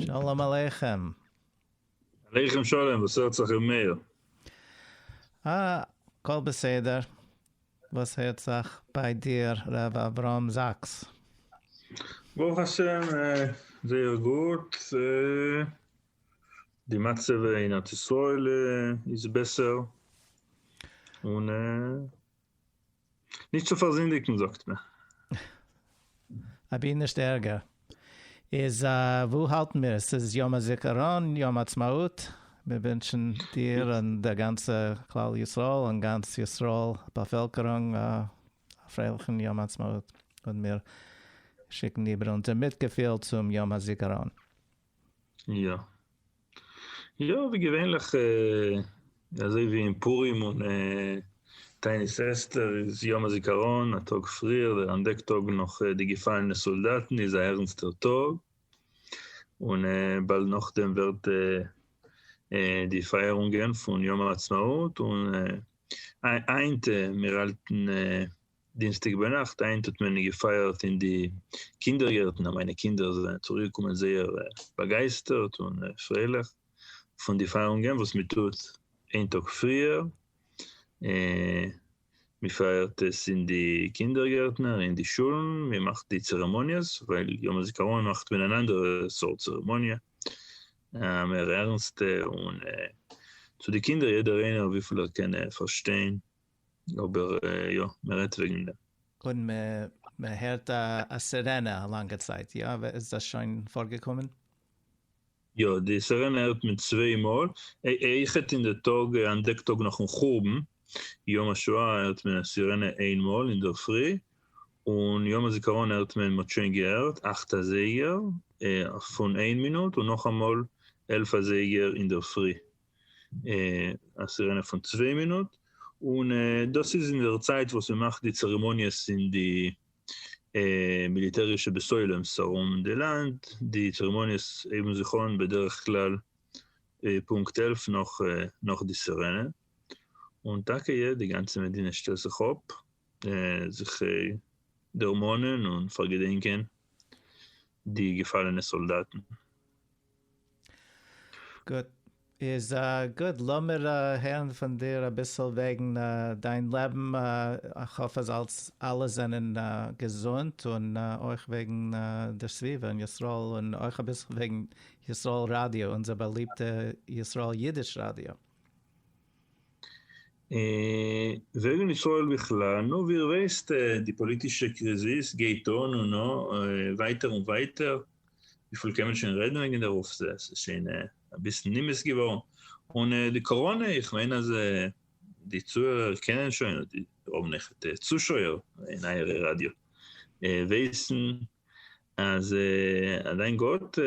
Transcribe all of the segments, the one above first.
שלום עליכם. עליכם שלום, וואס הערט זיך ר' מאיר? אה, הכל בסדר. וואס הערט זיך ביי דיר ר' אברהם זאקס? ברוך השם זייער גוט, די מצב אין ארץ ישראל איז בעסער, און נישט צו פארזינדיגן זאגט מען. אבי נישט ערגער. איז וואו האלטן מיר? עס איז יום הזיכרון, יום עצמאות, מיר ווינטשן דיר און דער גאנצע כלל ישראל און גאנץ ישראל באפעלקערונג א פרייליכן יום עצמאות, און מיר שיקן איבער אונזער מיטגעפיל צום יום הזיכרון. יא. יא, ווי געווענליך אזוי ווי אין פורים און תענית אסתר איז יום הזיכרון א טאג פריער, דער אנטדעק טאג נאך די געפאלענע סאלדאטן איז א ערנסטער טאג, און באלד נאכדעם ווערט די פייערונגען פון יום העצמאות, און היינט מיר האלטן דינסטאג ביינאכט היינט האט מען געפייערט אין די קינדער גערטן אז מיינע קינדער זענען צוריק געקומען זייער באגייסטערט און פרייליך פון די פייערונגען וואס מען טוט איין טאג פריער און מען פייערט עס אין די קינדער גערטן און אין די שולן מען מאכט די צערעמאניעס ווייל יום הזיכרון מאכט מען אן אנדערע סארט צערעמאניע א מער ערנסטע און צו די קינדער יעדער איינער וויפיל ער קען פארשטיין אבער יא, מען רעדט וועגן דעם. און מען הערט א סירענע א לאנגע צייט, יא? איז דאס שוין פארגעקומען? יא, די סירענע הערט מען צוויי מאל, איחוד אין די טאג, אן דעק טאג נאכן חורבן, יום השואה הערט מען א סירענע איין מאל אינדערפרי, און יום הזיכרון הערט מען, מען האט שוין געהערט אכט אזייגער פון איין מינוט, און נאכאמאל עלף אזייגער אינדערפרי, א סירענע פון צוויי מינוט, און דאס איז אין דער צייט וואס מען מאכט די צערעמאניעס אין די מיליטערישע בעסוילעמס ארום די לאנד, די צערעמאניעס הייבן זיך אן בדרך כלל פונקט עלף נאך די סירענע, און טאקע יא, די גאנצע מדינה שטעלט זיך אויף זיך דערמאנען און פארגעדענקען די געפאלענע סאלדאטן, גוט, איז גוט, לאמיר הערן פון דיר אביסל וועגן דיין לעבן, איך האף אז אלס אלע זענען געזונט, און אויך וועגן די סביבה און ישראל, און אויך אביסל וועגן ישראל ראדיא, אונזער באליבטע ישראל אידיש ראדיא. וועגן ישראל בכלל, נו ווי איר ווייסט די פאליטישע קריזיס גייט אן און ווייטער און ווייטער, וויפיל קען מען שוין רעדן וועגן דערויף, עס איז שוין אביסל נמאס געווארן, און די קאראנע, איך מיין אז די צוהערער קענען שוין, אדער די האבן עכט צושויער אין אייערע ראדיא ווייסן, אז אליין גאט,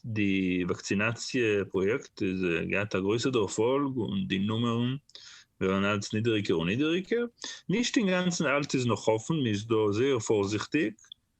די וואקסינאציע פראיעקט איז געהאט א גרויסע דערפאלג, און די נומערן ווערן אלץ נידעריגער און נידעריגער, נישט אינגאנצן אלץ איז נאך אפן, מען איז דא זייער פארזיכטיג,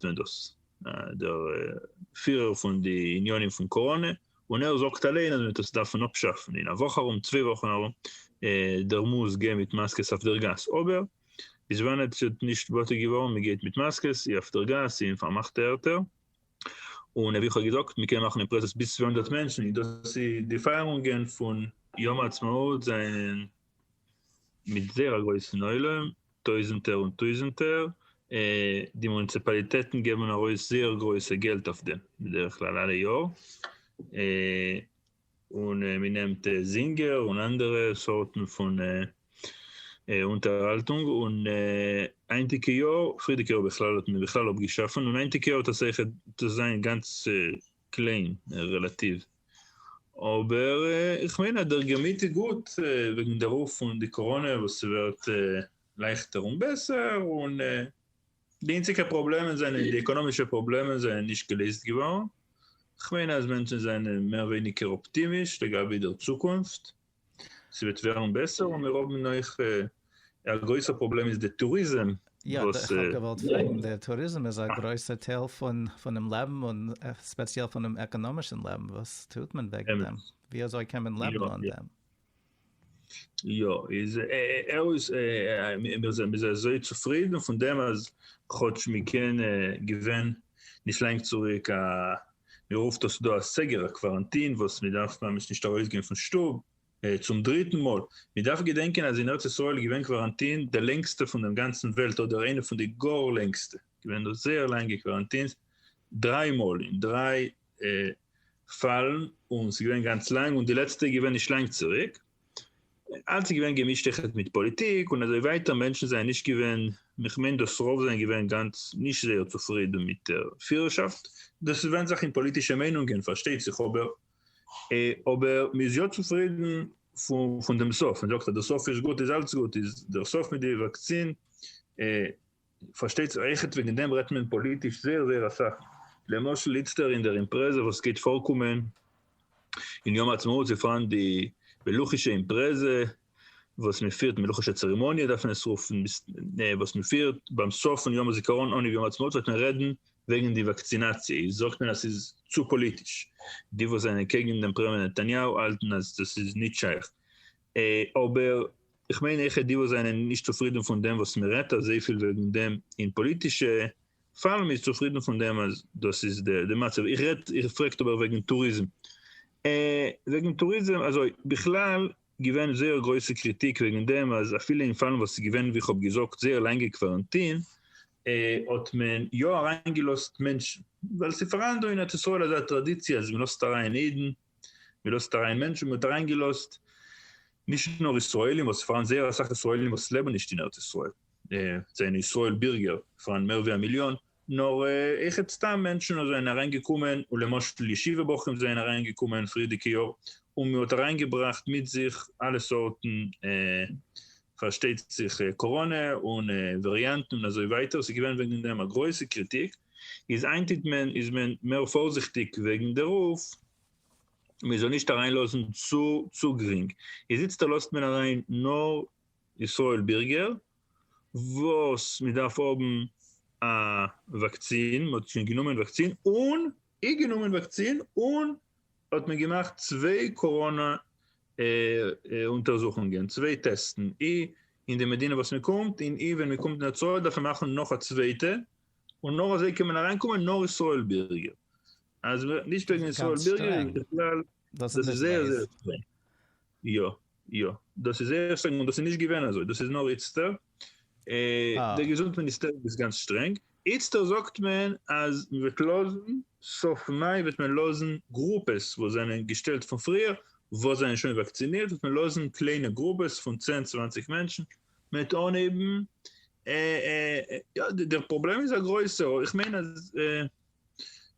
זענען דאס דער פירער פון די יוניאנים פון קאראנע, און ער זאגט אליין אז מען וועט עס דארפן אפשאפן אין א וואך ארום, צוויי וואכן ארום, דער מוז גיין מיט מאסקעס אויף דער גאס, אבער ביז ווען עטץ האט נישט באטעט געווארן מען גייט מיט מאסקעס אי אויף דער גאס אי אין פארמאכטע ערטער, און ווי איך האב געזאגט מען קען מאכן אין פרעסס ביז צוויי הונדערט מענטשן, און דאס איז די פייערונגען פון יום העצמאות זענען מיט זייער א גרויסן עולם, טויזענטער און טויזענטער, די מוניציפאליטעטן געבן ארויס זייער גרויסע געלט אויף דעם בדרך כלל אלע יאר, און מען נעמט זינגער און אנדערע סארטן פון אונטערהאלטונג, און היינטיגע יאר, פריערדיגע יאר בכלל האט מען בכלל אפגעשאפן, און היינטיגע יאר האט עס זעכער, עס איז געווען גאנץ קליין רעלאטיוו, אבער איך מיין אז דער געמיט איז גוט וועגן די רוף פון די קאראנע וואס ס'ווערט לייכטער און בעסער און די אינציגע פראבלעמען זענען די עקאנאמישע פראבלעמען זענען נישט געלעזט געווארן, כ'מיין אז מענטשן זענען מער ווייניגער אפטימיש לגבי דער צוקונפט. ס'וועט ווערן בעסער און מיר האבן אויך א גרויסע פראבלעם איז די טוריזם וואס. יא, כ'האב געוואלט פרעגן, די טוריזם איז א גרויסע טייל פונעם לעבן און ספעציעל פונעם עקאנאמישן לעבן, וואס טוט מען וועגן דעם? ווי אזוי קען מען לעבן אן דעם? יא, איז ערעויס מיר זעמיר אזוי צופרידן פון דעם אז כאטש מ'קען געווען נישט לאנג צוריק א מען רופט עס דא א סגר א קוואראנטין וואס מען דארף ממש נישט ארויס גיין פון שטוב, צום דריטן מאל, מען דארף געדענקען אז אין ארץ ישראל איז געווען קוואראנטין די לענגסטע פון דעם גאנצן וועלט אדער איינע פון די גאר לענגסטע, געווען דא זייער לאנגע קוואראנטינס, דריי מאל אין דריי פאלן, און ס'איז געווען גאנץ לאנג, און די לעצטע איז געווען נישט לאנג צוריק. אלץ איז געווען געמישט איך האב מיט פאליטיק און אזוי ווייטער מענטשן זענען נישט געווען איך מיין דאס רוב זענען געווען גאנץ נישט זייער צופרידן מיט דער פירערשאפט דאס איז ווענד זיך אין פאליטישע מיינונגען פארשטייט זיך אבער אבער מען איז יא צופרידן פון דעם סוף מען זאגט אז דער סוף איז גוט איז אלץ גוט איז דער סוף מיט די וואקסין פארשטייט זיך אויכעט וועגן דעם רעדט מען פאליטיש זייער זייער אסאך, למשל איצטער אין דער אימפרעזע וואס גייט פארקומען אין יום העצמאות איז פאראן די מלוכישע אימפרעזע וואס מען פירט, מלוכישע צערעמאניע דארף מען עס רופן, וואס מען פירט ביים סוף פון יום הזיכרון אנהייב יום העצמאות וועט מען רעדן וועגן די וואקצינאציע, איז זאגט מען אז ס'איז צו פאליטיש, די וואס זענען קעגן דעם פרעמיער נתניהו האלטן אז דאס איז נישט שייך. אבער איך מיין העכער די וואס זענען נישט צופרידן פון דעם וואס מען רעדט אזויפיל וועגן דעם אין פאליטישע פארום איז צופרידן פון דעם אז דאס איז די מצב. איך רעד, איר פרעגט אבער וועגן טוריזם. וועגן טוריזם אזוי, בכלל געווען זייער גרויסע קריטיק וועגן דעם אז אפילו אין פאלן וואס איז געווען ווי איך האב געזאגט זייער לאנגע קוואראנטין האט מען יא אריינגעלאזט מענטשן ווייל ס'איז פאראן דא אין ארץ ישראל אזא טראדיציע אז מען לאזט אריין אידן מען לאזט אריין מענטשן, מען האט אריינגעלאזט נישט נאר ישראלים, וואס פארן זייער אסאך ישראלים וואס לעבן נישט אין ארץ ישראל, זענען ישראל בירגער, פארן מער ווי א מיליאן, נאר אויכעט סתם מענטשן וואס זענען אריינגעקומען, און למשל ישיבה בחורים זענען אריינגעקומען פריערדיגע יאר, און מען האט אריינגעבראכט מיט זיך אלע סארטן, פארשטייט זיך קאראנע און וועריאנטן און אזוי ווייטער, עס איז געווען וועגן דעם א גרויסע קריטיק, איז איינטיט מען איז מען מער פארזיכטיג וועגן דערויף מען זאל נישט אריין לאזן צו צו גרינג, איזיצטער לאזט מען אריין נאר ישראל בירגער וואס מען דארף האבן א וואקצין, מען האט שוין גענומען וואקצין און אי גענומען וואקצין און האט מען געמאכט צוויי קאראנא אונטערזוכונגען, צוויי טעסטן, אי אין די מדינה וואס מען קומט און אי ווען מען קומט אין די צואה דארף מען מאכן נאך א צווייטע און נאר אזוי קען מען אריין קומען נאר ישראל בירגער, אז מען וועט נישט וועגן ישראל בירגער איז בכלל דאס איז זייער זייער שטרענג, יא יא דאס איז זייער שטרענג און דאס איז נישט געווען אזוי דאס איז נאר איצטער, די געזונט מיניסטער איז גאנץ שטרענג, איצטער זאגט מען אז מען וועט לאזן סוף מאי וועט מען לאזן גרופעס וואס זענען געשטעלט פון פריער וואס זענען שוין וואקצינירט וועט מען לאזן קליינע גרופעס פון צען צוואנציג מענטשן מען וועט אנהייבן יא, דער פראבלעם איז א גרויסער, איך מיין אז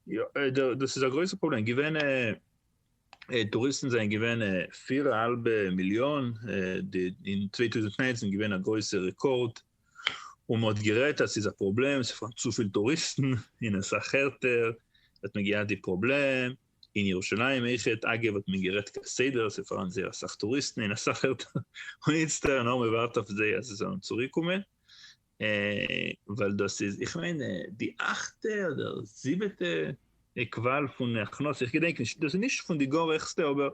יא, דאס איז א גרויסער פראבלעם, געווען טוריסטן זענען געווען פיר א האלבע מיליאן, אין צוויי טויזנט נײַנצן געווען א גרויסע רעקארד, און מען האט גערעדט אז ס'איז א פראבלעם, ס'פארן צופיל טוריסטן, און אסאך ערטער האט מען געהאט די פראבלעם, אין ירושלים איכעט אגב האט מען גערעדט כסדר ס'איז פארהאן זייער אסאך טוריסטן אין אסאך ערטער און איצטער נאר מ'ווארט אויף זיי אז זיי זאלן צוריק קומען ווייל דאס איז איך מיין די אכטע אדער זיבעטע קוואל פון הכנסה איך געדענק נישט דאס איז נישט פון די גאר העכסטע אבער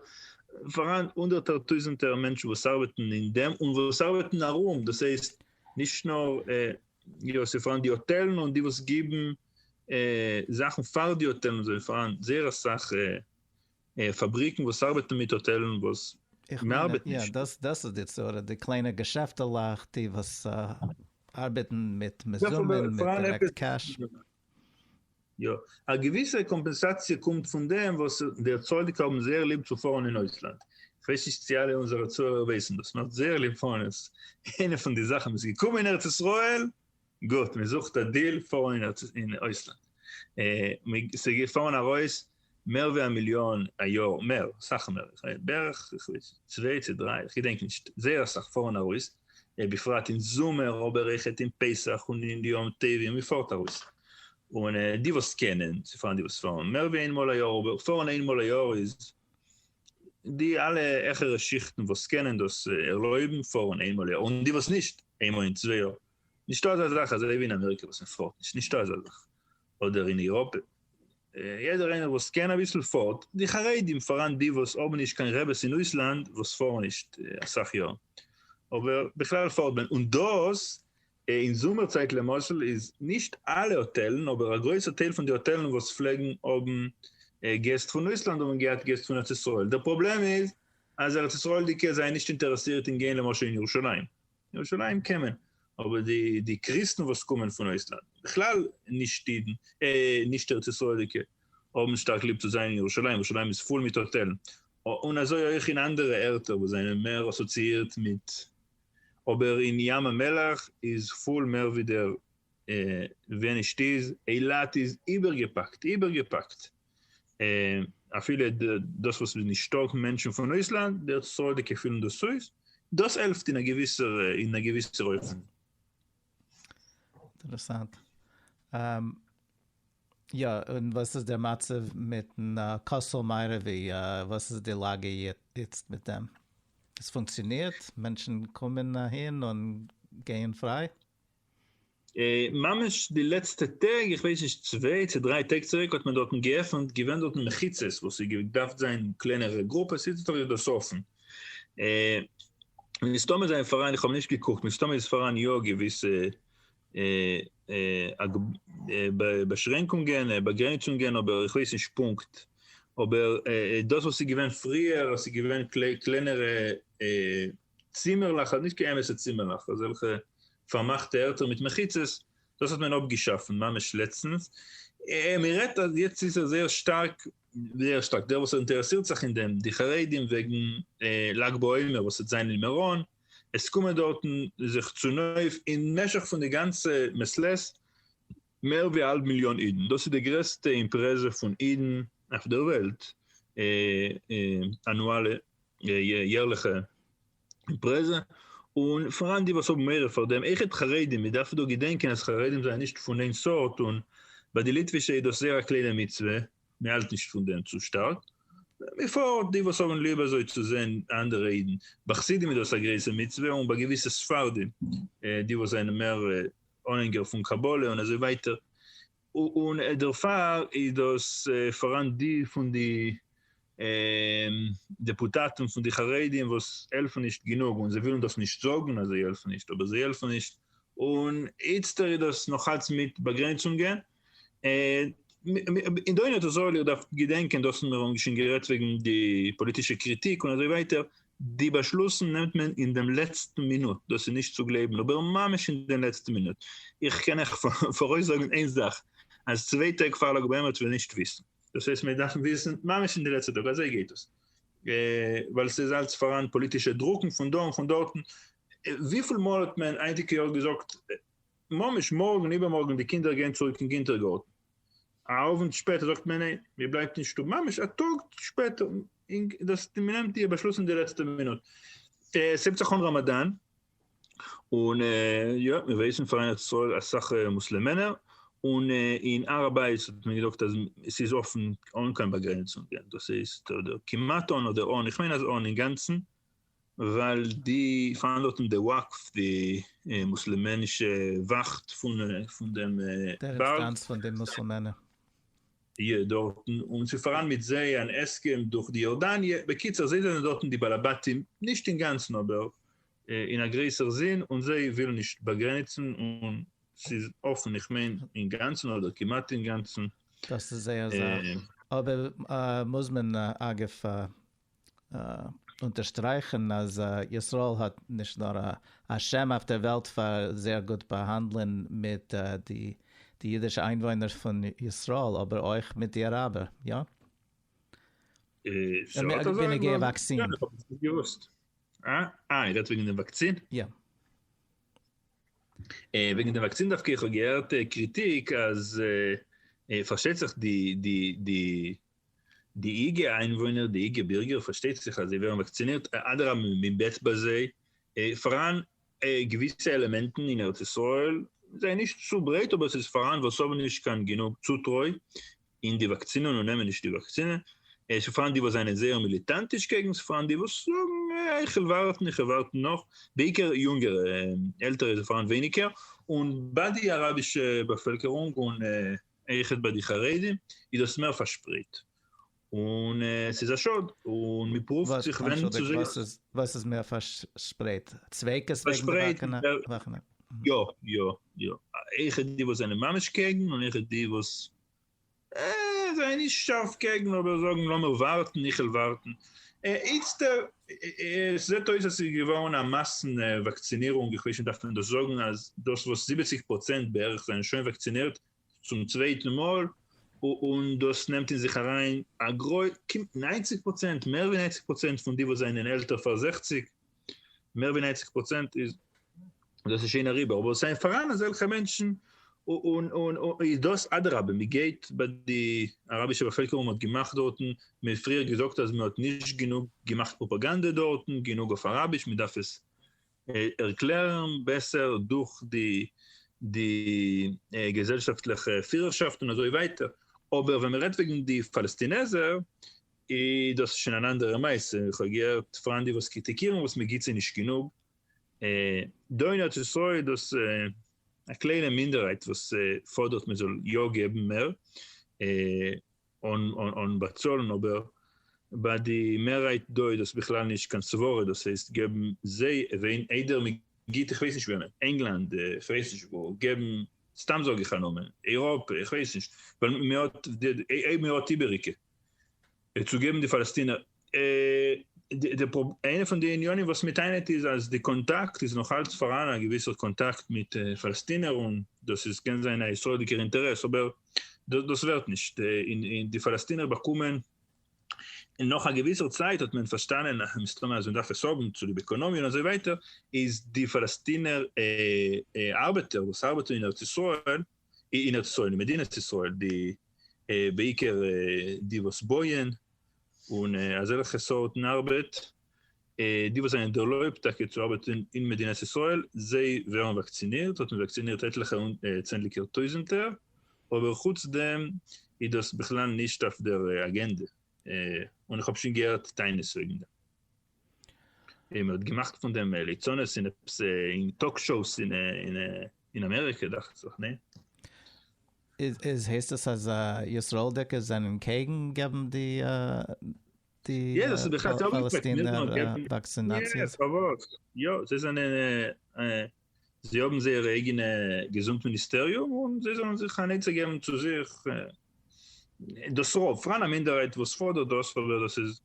פארהאן הונדערטער טויזענטער מענטשן וואס ארבעטן אין דעם און וואס ארבעטן ארום דאס הייסט נישט נאר יא ס'איז פארהאן די האטעלן און די וואס גיבן זאכן פאר די האטעלן זענען פאראן זייער אסאך פאבריקן וואס ארבעטן מיט האטעלן וואס מ'ארבעט נישט מיט. יא דאס איז די צרה די קליינע געשעפטעלעך די וואס ארבעטן מיט מזומן מיט דירעקט קעש. יא א געוויסע קאמפענסאציע קומט פון דעם וואס די צדיק האבן זייער ליב צו פארן אין אויסלאנד, כ'ווייס נישט צו אלע אונזערע צוהערער ווייסן דאס, מ'האט זייער ליב פארן, איינע פון די זאכן מ'איז געקומען אין ארץ ישראל גוט, מען זוכט א דיל פאר אין אויסלאנד, ס'איז געפארן ארויס מער ווי א מיליאן א יאר, מער, אסאך מער, בערך צוויי צו דריי, איך געדענק נישט, זייער אסאך פארן ארויס, בפרט אין זומער, אבער איך העט אין פסח און אין די יום טובים, מען פארט ארויס, און די וואס קענען, ס'פארן די וואס פארן מער ווי איין מאל א יאר, אבער פארן איין מאל א יאר איז, די אלע העכערע שיכטן וואס קענען דאס ערלויבן פארן איין מאל א יאר, און די וואס נישט, איינמאל אין צוויי יאר, נישטא אזא זאך אזוי ווי אין אמעריקע וואס מען פארט נישט, נישטא אזא זאך, אדער אין אירופה, יעדער איינער וואס קען אביסל פארט, די חרדים פאראן די וואס האבן נישט קיין רעבעס אין אויסלאנד וואס פארן נישט אסאך יאר, אבער בכלל פארט מען, און דאס אין זומער צייט למשל איז נישט אלע האטעלן אבער א גרויסע טייל פון די האטעלן וואס פלעגן האבן געסט פון אויסלאנד האבן געהאט געסט פון ארץ ישראל, דער פראבלעם איז אז ארץ ישראל'דיגע זענען נישט אינטערעסירט אין גיין למשל אין ירושלים. ירושלים קען מען, אבער די קריסטן וואס קומען פון אויסלאנד, בכלל נישט אידן, נישט ארץ ישראל'דיגע, האבן שטארק ליב צו זיין אין ירושלים, ירושלים איז פול מיט האטעלן, און אזוי אויך אין אנדערע ערטער וואס זענען מער אסאציאירט מיט, אבער אין ים המלח איז פול מער ווי דער ווען נישט איז, אילת איז איבערגעפאקט, איבערגעפאקט. און אפילו דאס וואס מ'איז נישטא מענטשן פון אויסלאנד, די סארדיגע פילן דאס אויס, דאס העלפט אין א געוויסער אין א געוויסער אופן. אינטערעסאנט. יא, און וואס איז דער מצב מיטן כותל מערבי, וואס איז די לאגע איצט מיט דעם? עס פונקציאנירט? מענטשן קומען אהין און גייען פריי? ממש די לעצטע טעג, איך ווייס נישט צוויי צו דריי טעג צוריק האט מען דארטן געעפנט, געווען דארטן מחיצות וואס איז געדארפט זיין קלענערע גרופעס, היצט האב איך דאס אפן. מסתמא זענען פאראן, איך האב נישט געקוקט, מסתמא איז פאראן יא געוויסע באשרענקונגען, באגרעניצונגען, אבער איך ווייס נישט פונקט. אבער דאס וואס איז געווען פריער אז ס'איז געווען קלענערע צימערלעך אדער נישט קיין אמת'ע צימערלעך, אזעלכע פארמאכטע ערטער מיט מחיצות, דאס האט מען אפגעשאפן ממש לעצטנס, מען רעדט אז יעצט איז ער זייער שטארק, זייער שטארק, דער וואס אינטערעסירט זיך אין דעם, די חרדים וועגן לג בעומר וואס וועט זיין אין מירון, עס קומען דארטן זיך צונויף אין משך פון די גאנצע מס' ט, מער ווי א האלב מיליאן אידן, דאס איז די גרעסטע אימפרעזע פון אידן אויף דער וועלט, אנואלע, יערליכע, אימפרעזע, און פאראן די וואס האבן מורא פאר דעם, עכפ חרדים, מען דארף דא געדענקען אז חרדים זענען נישט פון איין סארט, און ביי די ליטווישע איז דאס זייער א קליינע מצוה, מען האלט נישט פון דעם צו שטארק, בפרט די וואס האבן ליב אזוי צו זען אנדערע אידן, ביי חסידים איז דאס א גרויסע מצוה, און ביי געוויסע ספרדים, די וואס זענען מער אנהענגער פון קבלה און אזוי ווייטער, און דערפאר איז דאס פאראן די פון די דעפוטאטן פון די חרדים וואס העלפן נישט גענוג און זיי ווילן דאס נישט זאגן אז זיי העלפן נישט אבער זיי העלפן נישט און איצטער איז דאס נאכאלץ מיט באגרעניצונגען און דאן האט ער זאליער געדארפט געדענקען דאס האבן מיר אמאל שוין גערעדט וועגן די פאליטישע קריטיק און אזוי ווייטער, די באשלוסן נעמט מען אין דעם לעצטן מינוט, דאס איז נישט צו גלייבן, אבער ממש אין דעם לעצטן מינוט. איך קען אייך פאראויסזאגן איין זאך, אז צוויי טעג פאר לג בעומר וועט מען נישט וויסן. דאס הייסט מיר דארפן וויסן ממש אין די לעצטע טאג, אזוי גייט דאס. ווייל ס'איז אלץ פאראן פאליטישע דרוקן פון דא און פון דארטן. וויפיל מאל האט מען היינטיגע יאר געזאגט, ממש מארגן איבערמארגן די קינדער גייען צוריק אין קינטערגארטן, א אוונט שפעטער זאגט מען ניין מען בלייבט אין שטוב, ממש א טאג שפעטער, דאס מען נעמט די באשלוס אין די לעצטע מינוט, ס'הייבט זיך אן ראמאדאן, און יא מיר ווייסן פאר ארץ ישראל אסאך מוסלעמענער, און אין הר הבית האט מען געזאגט אז עס איז אפן אן קיין באגרעניצונגען, דאס הייסט אדער כמעט אן אדער אן, איך מיין אז אן אינגאנצן, ווייל די פארן דארט אין די וואקף די מוסלמענישע וואכט פון דעם בארג. יא דארטן, און ס'איז פאראן מיט זיי אן הסכם דורך די יארדאניע, בקיצור זיי זענען דארטן די בעלי בתים, נישט אינגאנצן אבער אין א גרעסער זין, און זיי ווילן נישט באגרעניצן און ס'איז אפן איך מיין אינגאנצן אדער כמעט אינגאנצן. דאס איז זייער זאך, אבער מוז מען אגב אונטערשטרייכן אז ישראל האט נישט נאר א שם אויף דער וועלט פאר זייער גוט באהאנדלען מיט די אידישע איינוואוינער פון ישראל אבער אויך מיט די אראבער, יא? בנוגע וואקסין. יא, איך האב עס נישט געוואוסט. אה, איר רעדט וועגן דעם וואקסין? יא. וועגן דעם וואקסין דווקא איך האב געהערט קריטיק אז פארשטייט זיך די די איגע איינוואוינער, די איגע בירגער, פארשטייט זיך אז זיי ווערן וואקצינירט, אדרבה מען בעט ביי זיי, פאראן געוויסע עלעמענטן אין ארץ ישראל, זיי נישט צו ברייט אבער עס איז פאראן וואס האבן נישט קיין גענוג צוטרוי אין די וואקסינען און נעמען נישט די וואקסינע, עס איז פאראן די וואס זענען זייער מיליטאנטיש קעגן, עס איז פאראן די וואס זאגן איך וויל ווארטן איך וויל ווארטן נאך, בעיקר יונגערע, עלטערע איז פאראן ווייניגער, און ביי די אראבישע באפעלקערונג און עכפ ביי די חרדים איז דאס מער פארשפרייט, און עס איז א שאד, און מען פרואווט זיך ווענדן צו זיי. וואס איז מער פארשפרייט? צווייגעס וועגן די וואכנער? יא, יא, יא. עכפ די וואס זענען ממש קעגן, און עכפ די וואס זענען נישט שארף קעגן אבער זאגן לאמיר ווארטן, איך וועל ווארטן. איצטער עס זעט אויס אז ס'איז געווארן א מאסן וואקצינירונג, איך ווייס נישט דארף מען דאס זאגן אז דאס וואס זיבעציג פראצענט בערך זענען שוין וואקצינירט צום צווייטן מאל, און דאס נעמט אין זיך אריין א גרוי, ניינציג פראצענט, מער ווי ניינציג פראצענט פון די וואס זענען עלטער פאר זעכציג, מער ווי נײַנציק פראצענט איז דאס איז שוין אריבער, אבער עס זענען פאראן אזעלכע מענטשן, און איז דאס אדרבה, מען גייט ביי די אראבישע באפעלקערונג, מען האט געמאכט דארטן, מען האט פריער געזאגט אז מען האט נישט גענוג געמאכט פראפאגאנדע דארטן, גענוג אויף אראביש, מען דארף עס ערקלערן בעסער דורך די געזעלשאפטליכע פירערשאפט און אזוי ווייטער, אבער ווען מען רעדט וועגן די פאלעסטינעזער, איז דאס שוין אן אנדערע מעשה, איך האב געהערט פארהאן די וואס קריטיקירן וואס מען גיבט זיי נישט גענוג, דא אין ארץ ישראל איז דאס א קליינע מינדערהייט וואס פאדערט מען זאל יא געבן מער און באצאלן, אבער ביי די מערהייט דא איז דאס בכלל נישט קיין סברה, דאס הייסט געבן זיי ווען איידער מען גיבט איך ווייס נישט וועמען, ענגלאנד, איך ווייס נישט וואו, געבן, סתם זאג איך א נאמען, אייראפע, איך ווייס נישט, ווייל מען האט, אויב מען האט איבעריגע. צו געבן די פאלעסטינער איינע פון די עניינים וואס מען טענה'ט איז אז די קאנטאקט איז נאך אלץ פארהאן א געוויסער קאנטאקט מיט פאלעסטינער און דאס איז קען זיין א ישראל'דיגער אינטערעס אבער דאס ווערט נישט און די פאלעסטינער באקומען און נאך א געוויסער צייט האט מען פארשטאנען מסתמא אז מען דארף עס האבן צוליב עקאנאמיע און אזוי ווייטער איז די פאלעסטינער ארבעטער וואס ארבעטן אין ארץ ישראל אין ארץ ישראל אין מדינת ישראל די בעיקר די וואס בויען און אזעלכע סארטן ארבעט די וואס זענען ערלויבט טאקע צו ארבעטן אין מדינת ישראל זיי ווערן וואקצינירט האט מען וואקצינירט עטליכע צענדליגער טויזענטער אבער חוץ דעם איז דאס בכלל נישט אויף דער אגענדע און איך האב שוין געהערט טענות וועגן דעם און מען האט געמאכט פון דעם ליצנות און עפעס אין טאלק שאוס און. אין אמעריקע דאכט זיך, ניין? איז הייסט עס אז ישראל'דיגע זענען קעגן געבן די די פאלעסטינער וואקסינאציעס? יא, זיי זענען, זיי האבן זייער אייגענע געזונט מיניסטעריום און זיי זאלן זיך אן עצה געבן צו זיך, דאס רוב, פאראן א מינדערהייט וואס פאדערט דאס אבער דאס איז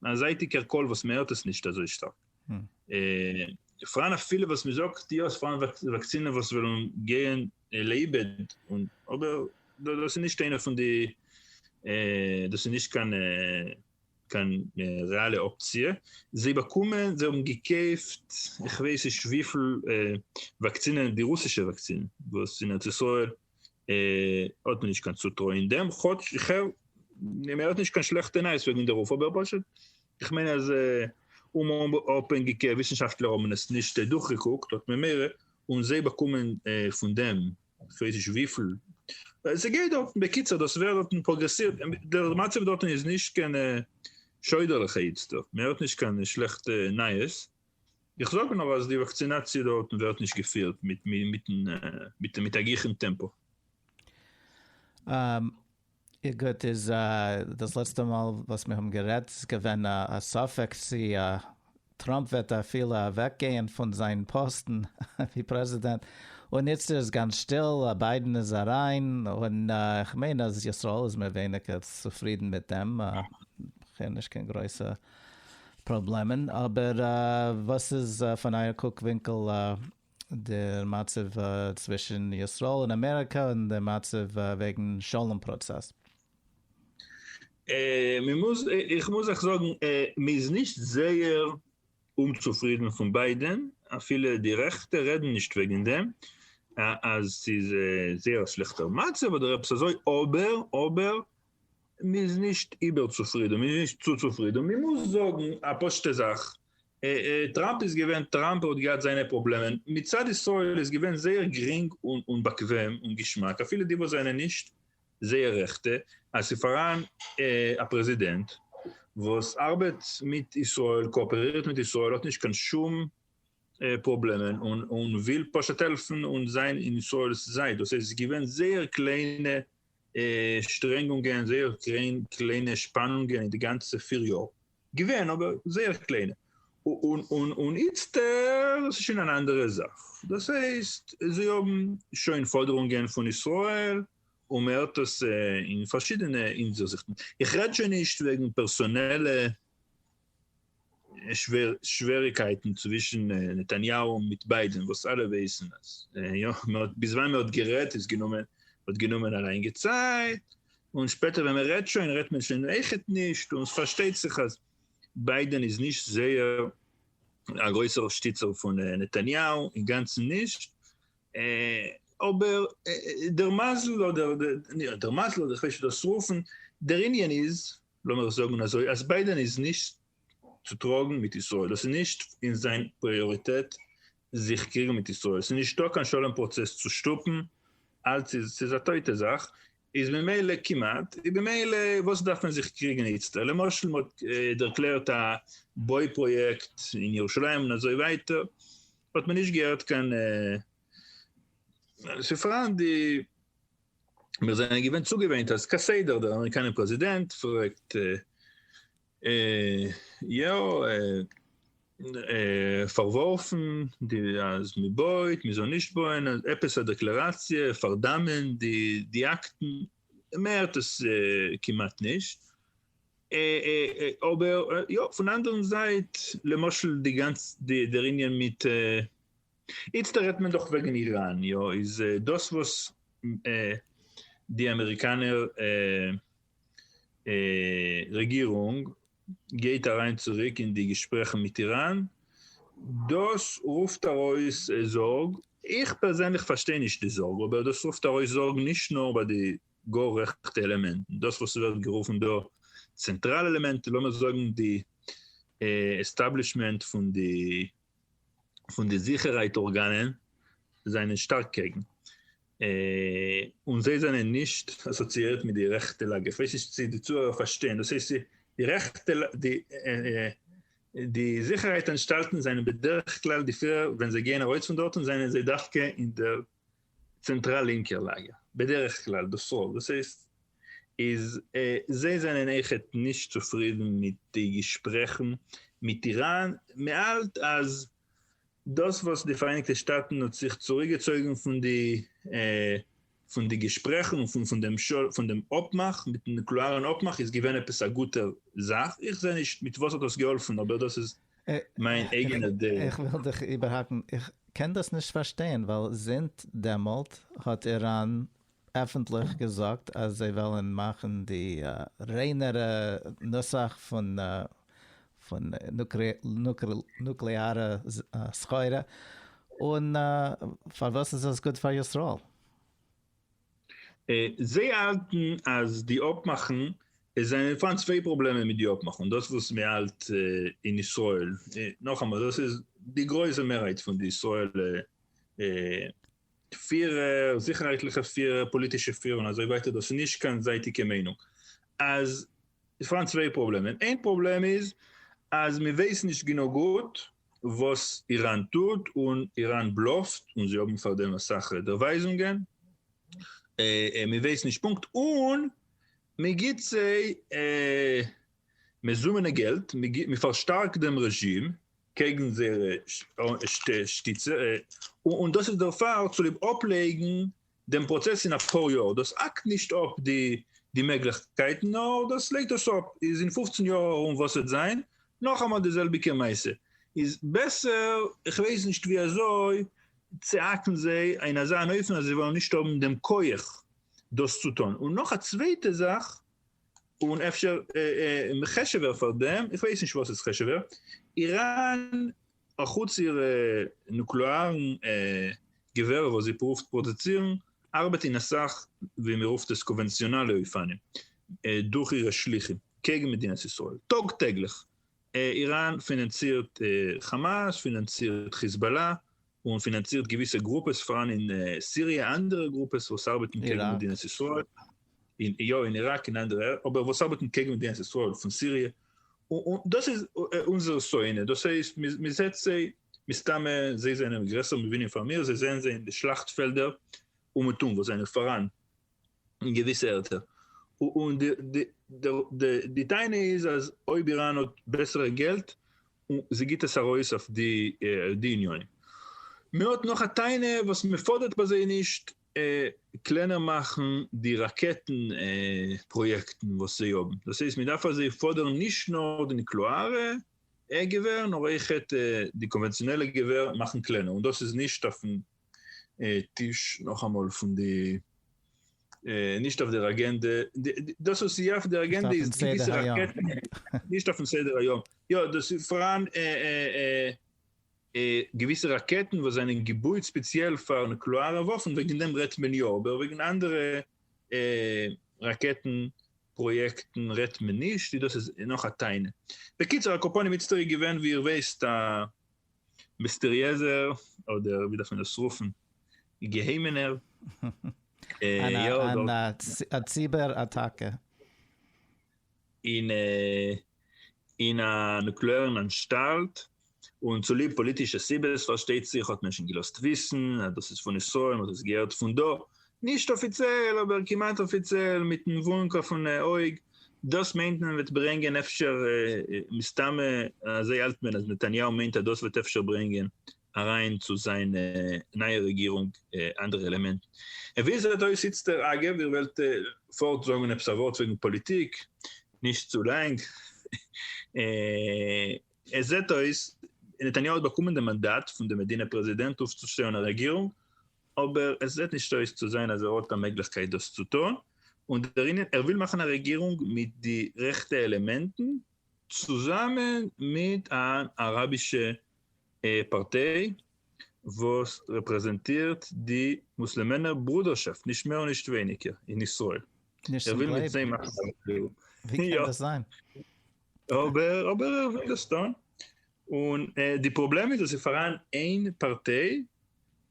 א זייטיגער קול וואס מען הערט עס נישט אזוי שטארק. פראן אפילו וואס מען זאגט יא עס פראן וואקסינען וואס וועלן גיין לאיבוד און אבער דאס איז נישט איינע פון די דאס איז נישט קיין קיין רעאלע אפציע. זיי באקומען זיי האבן געקויפט איך ווייס נישט וויפיל וואקסינען די רוסישע וואקסינען וואס אין ארץ ישראל האט מען נישט קיין צוטרוי אין דעם, כאטש איך הער מען האט נישט קיין שלעכטע נייעס וועגן די רוף אבער פשוט איך מיין אז אומאפהענגיגע וויסנשאפטלער האבן עס נישט דורכגעקוקט האט מען מער און זיי באקומען פון דעם כ'ווייס נישט וויפיל ס'גייט דארטן, בקיצור דאס ווערט דארטן פראגרעסירט דער מצב דארטן איז נישט קיין שוידערליכע איצטער מען הערט נישט קיין שלעכטע נייעס איך זאג נאר אז די וואקצינאציע דארטן ווערט נישט געפירט מיט א גיכן טעמפא. גוט, איז דאס לעצטע מאל וואס מיר האבן גערעדט איז געווען א ספק צי טראמפ וועט אפילו אוועקגייען פון זיין פאסטן ווי פרעזידענט, און איצטער איז גאנץ שטיל, ביידן איז אריין, און איך מיין אז ישראל איז מער ווייניגער צופרידן מיט דעם, כ'הער נישט קיין גרויסע פראבלעמען, אבער וואס איז פון אייער קוק ווינקל דער מצב צווישן ישראל און אמעריקא און דער מצב וועגן שלום פראצעס? מען מוז, איך מוז אייך זאגן, מען איז נישט זייער אומצופרידן פון ביידען, אפילו די רעכטע רעדן נישט וועגן דעם אז ס'איז זייער א שלעכטער מצב אדער עפעס אזוי, אבער אבער מ'איז נישט איבערצופרידן, מ'איז נישט צו צופרידן, מ'מוז זאגן א פשוט'ע זאך, טראמפ איז געווען טראמפ, ער האט געהאט זיינע פראבלעמען, מצד ישראל איז געווען זייער גרינג און באקוועם און געשמאק, אפילו די וואס זענען נישט זייער רעכטע, אז ס'איז פאראן א פרעזידענט וואס ארבעט מיט ישראל, קאאפערירט מיט ישראל, האט נישט קיין שום פראבלעמען און וויל פשוט העלפן און זיין אין ישראל'ס זייט, דאס הייסט ס'איז געווען זייער קליינע שטרענגונגען, זייער קליינע שפאנונגען אין די גאנצע פיר יאר, געווען אבער זייער קליינע, און איצטערט איז עס שוין אן אנדערע זאך, דאס הייסט זיי האבן שוין פאדערונגען פון ישראל, און מען הערט עס אין פארשידענע אינזיכטן, איך רעד שוין נישט וועגן פערסאנעלע שוועריקייטן צווישן נתניהו מיט ביידען וואס אלע ווייסן אז יא ביז ווען מען האט גערעדט איז גענומען האט גענומען א לאנגע צייט און שפעטער ווען מען רעדט שוין רעדט מען שוין עכט נישט און עס פארשטייט זיך אז ביידען איז נישט זייער א גרויסער שטיצער פון נתניהו אינגאנצן נישט אבער דער מזל אדער דער מזל אדער איך ווייס נישט ווי דאס צו רופן דער ענין איז לאמיר זאגן אזוי אז ביידען איז נישט צו טראגן מיט ישראל, עס איז נישט אין זיין פריאריטעט זיך קריגן מיט ישראל, עס איז נישטא קיין שלום פראצעס צו שטופן, אלץ איז עס א טויטע זאך, איז ממילא כמעט, איז ממילא וואס דארף מען זיך קריגן איצטער, למשל מען האט דערקלערט א בוי פראיעקט אין ירושלים און אזוי ווייטער, האט מען נישט געהערט קיין, ס'איז פארהאן די. מיר זענען געווען צוגעוואינט אז כסדר דער אמעריקאנער פרעזידענט פרעגט יא פארווארפן די אז מען בויט מען זאל נישט בויען עפעס א דעקלעראציע פארדאמען די די אקטן מען הערט עס כמעט נישט אבער יא פון אנדערן זייט למשל די גאנצע דער ענין מיט איצטער רעדט מען דאך וועגן איראן, יא, איז דאס וואס די אמעריקאנער רעגירונג גייט אריין צוריק אין די געשפרעכן מיט איראן, דאס רופט ארויס זארג, איך פערזענליך פארשטיי נישט די זארג, אבער דאס רופט ארויס זארג נישט נאר ביי די גאר רעכטע עלעמענטן, דאס וואס ס'ווערט גערופן דא צענטראל עלעמענטן, לאמיר זאגן די עסטאבלישמענט פון די פון די זיכערהייט ארגאנען זענען שטארק קעגן, און זיי זענען נישט אסאציאירט מיט די רעכטע לאגער, כ'ווייס נישט צו די צוהערער פארשטייען, דאס הייסט די רעכטע די זיכערהייט אנטשטאלטן זענען בדרך כלל די פירער ווען זיי גייען ארויס פון דארטן זענען זיי דווקא אין די צענטראל לינקער לאגער, בדרך כלל דאס רוב, דאס הייסט איז זיי זענען עכ ת נישט צופרידן מיט די געשפרעכן מיט איראן, מען האלט אז דאס וואס די פאראייניגטע שטאטן האט זיך צוריקגעצויגן פון די פון די געשפרעכן און פון דעם פון דעם אפמאך מיטן נוקלעארן אפמאך איז געווען עפעס א גוטער זאך, איך זע נישט מיט וואס האט דאס געהאלפן אבער דאס איז מיין אייגענע דעה. איך וויל דיך איבערהאקן, איך קען דאס נישט פארשטיין, ווייל זינט דעמאלט האט איראן עפנטליך געזאגט אז זיי וועלן מאכן די ריינערע נוסח פון פון נוקלעארע סחורה, און פארוואס איז עס גוט פאר ישראל? זיי האלטן אז די אפמאכן, עס זענען פאראן צוויי פראבלעמען מיט די אפמאכן, דאס וואס מען האלט אין ישראל, נאכאמאל דאס איז די גרויסע מערהייט פון די ישראלע פירער, זיכערהייטליכע פירער, פאליטישע פירער און אזוי ווייטער, דאס איז נישט קיין זייטיגע מיינונג, אז עס איז פאראן צוויי פראבלעמען, איין פראבלעם איז אז מען ווייסט נישט גענוג גוט וואס איראן טוט און איראן בלאפט און זיי האבן פאר דעם אסאך דערווייזונגען מען ווייסט נישט פונקט און מען גיבט זיי מזומנע געלט מען פארשטארקט דעם רעזשים קעגן זייערע שטיצע און דאס איז דערפאר צוליב אפלייגן דעם פראצעס אין אפאר יאר, דאס האקט נישט אפ די מעגליכקייטן נאר דאס לייגט דאס אפ, איז אין פופצן יאר ארום וואס וועט זיין, נאכאמאל די זעלביגע מעשה, איז בעסער כ'ווייס נישט ווי אזוי צו האקן זיי אין אזא אן אופן אז זיי וועלן נישט האבן דעם כח דאס צו טון, און נאך א צווייטע זאך און אפשר חשוב'ער פאר דעם, כ'ווייס נישט וואס איז חשוב'ער, איראן אחוץ איר נוקלעארן געווער וואס זי פרואווט פראדוצירן, ארבעט אין אסאך ווי מען רופט עס קאווענציאנאלע אופנים דורך אירע שליחים קעגן מדינת ישראל טאג טעגליך. איראן פינאנצירט חאמאס, פינאנצירט חיזבאלא, און פינאנצירט געוויסע גרופעס פאראן אין סיריע, אנדערע גרופעס וואס ארבעטן קעגן מדינת ישראל, יא אין איראק אין אנדערע, אבער וואס ארבעטן קעגן מדינת ישראל פון סיריע, און דאס איז אונזער שונא, דאס הייסט מען זעט זיי, מסתמא זיי זענען גרעסער מבינים פאר מיר, זיי זעען זיי אין די שלאכט פעלדער אומעטום וואס זענען פאראן אין געוויסע ערטער, און די טענה איז אז אויב איראן האט בעסערע געלט און זי גיבט עס ארויס אויף די יוניאן. מען האט נאך א טענה וואס מען פאדערט ביי זיי נישט, קלענער מאכן די ראקעטן פראיעקטן וואס זיי האבן, דאס הייסט מען דארף אזוי פאדערן נישט נאר די נוקלעארע געווער נאר אויכעט די קאנווענציאנעלע געווער מאכן קלענער און דאס איז נישט אויפן טיש נאכאמאל פון די נישט אויף דער אגענדע דאס וואס איז יא אויף דער אגענדע איז געוויסע ראקעטן נישט אויפן סדר היום יא דאס איז פאראן. געוויסע ראקעטן וואס זענען געבויט ספעציעל פאר נוקלעארע וואפן, וועגן דעם רעדט מען יא, אבער וועגן אנדערע ראקעטן פראיעקטן רעדט מען נישט, און דאס איז נאך א טענה. בקיצור, על כל פנים, איצטער איז געווען ווי איר ווייסט א מיסטעריעזער, אדער ווי דארף מען עס רופן, געהיימענער, יא, דארט. א ציבער אטאקע. אין א נוקלעארן אנשטאלט, און צוליב פאליטישע סיבות פארשטייט זיך האט מען שוין געלאזט וויסן אז דאס איז פון ישראל, מען האט עס געהערט פון דא, נישט אפיציעל אבער כמעט אפיציעל, מיטן וואונק אויפן אויג, דאס מיינט מען וועט ברענגען אפשר, מסתמא אזוי האלט מען אז נתניהו מיינט אז דאס וועט אפשר ברענגען אריין צו זיין נייע רעגירונג אנדערע עלעמענטן. און ווי עס זעט אויס איצטער, אגב, איר וועלט פארט זאגן עפעס א ווארט וועגן פאליטיק, נישט צו לאנג, עס זעט אויס נתניהו האט באקומען די מאנדאט פון די מדינה פרעזידענט אויפצושטעלן א רעגירונג, אבער עס זעט נישט אויס צו זיין אז ער האט א מעגליכקייט דאס צו טון, און דער ענין, ער וויל מאכן א רעגירונג מיט די רעכטע עלעמענטן צוזאמען מיט אן אראבישע פארטיי וואס רעפרעזענטירט די מוסלעמענער ברודערשאפט נישט מער און נישט ווייניגער אין ישראל, נישט ער צום וויל מיט זיי גלייבן, מאכן א דיעל, ווי קען יא, דאס זיין? אבער אבער ער וויל דאס טון, און די פראבלעם איז אז ס'איז פאראן איין פארטיי,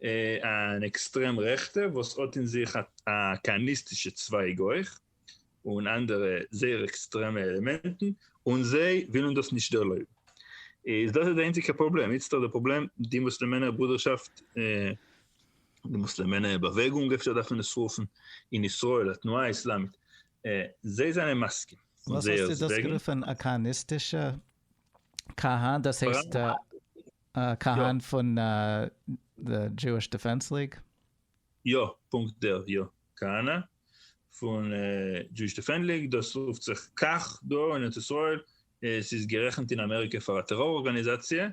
אן עקסטרעם רעכטע, וואס האט אין זיך א כהניסטישע צווייג אויך, און אנדערע זייער עקסטרעמע עלעמענטן, און זיי ווילן דאס נישט ערלויבן. איז דאס איז די איינציגע פראבלעם? איצטער די פראבלעם, די מוסלעמענער ברודערשאפט, די מוסלעמענער באוועגונג אפשר דארף מען עס רופן, אין ישראל, התנועה האיסלאמית, זיי זענען מסכים. וואס האסטו דאס גערופן? א כהניסטישע כהן? דאס הייסט כהן פון די דזשואיש דעפענס ליג? יא, פונקט דער, יא, כהנא, פון דזשואיש דעפענד ליג, דאס רופט זיך כך דא אין ארץ ישראל, עס איז גערעכנט אין אמעריקע פאר א טעראר ארגאניזאציע,